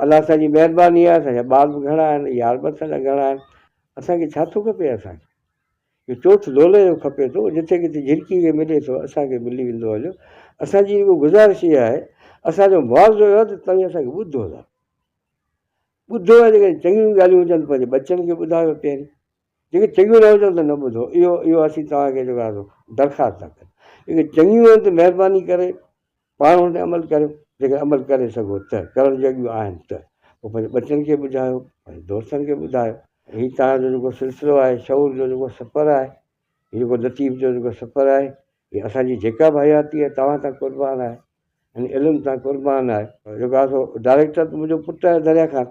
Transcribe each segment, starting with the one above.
الله اسان جي مهرباني آهي اسان جا ٻار به گهڻا آهن يار به اسان جا گهڻا آهن اسان کي ڇا ٿو کپي اسان کي جو چوٿ لولهه جو کپي ٿو جتي ڪٿي جهرڪي کي ملي ٿو اسان کي ملي ويندو هليو اسان جي اهو گذارش اها آهي اسان جو معاوضو اهو ته توهين اسان کي ٻڌو ٿا ٻڌو آهي جيڪڏهن چڱيون ڳالهيون هجن ته پنهنجي ٻچن کي ٻڌايو پهرين جيڪي چڱيون نه هجن ته نه ٻڌو اهو اهو اسين توهان کي جيڪو درخواست ٿا ڪريون جيڪي چڱيون آهن ته مهرباني ڪري پاڻ ان تي عمل ڪريو جيڪڏهن عمل ڪري سگهو ته ڪرڻ جهڙيون آهن ته پوء پنهنجي ٻچن کي ٻڌايو پنهنجي دوستن کي ٻڌايو هي توهان جو جيڪو سلسلو آهي شعور جو جيڪو سفر آهي هي جيڪو لطيف جو جيڪو سفر آهي هي اسان جي جيڪا به حياتي آهي توهان تان قربان آهي ان علم تان قربان آهي جيڪو آسو ڊائريڪٽر ته منهنجو پٽ آهي دريا خان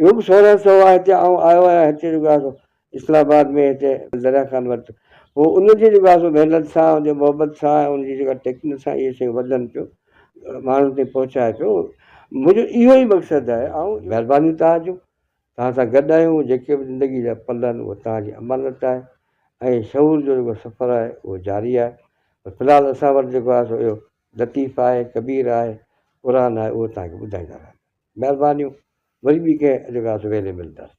اهو به سهڻو چئو آهي هتي آئون آيو آهيان هتي جيڪو آهي سو اسلام آباد ۾ هتي دريا خان وٽ هو ان جي جيڪو آهي سو محنت سان ان جي محبت سان ۽ ان جي جيڪا ٽيڪنڪ سان اهي شيون وڌن پيو ماڻهن تائين پهچائي پيو منهنجو اهو ئي مقصد آهي آئون مهربانيون توهان جون توهان سان گڏ آهيون جيڪي به زندگي جا پل آهن اهو توهان جي امانت آهي ۽ شعور جو جيڪو سفر آهي اهو جاري آهي پر في الحال اسان وٽ جيڪو آهي سو اهو لطيف آهي ڪبير آهي قرآن آهي اهو توهان کي ٻڌائيندا رهندا مھربانيون وري ٻي ڪنھن اجلاس ويلي ملنداسين.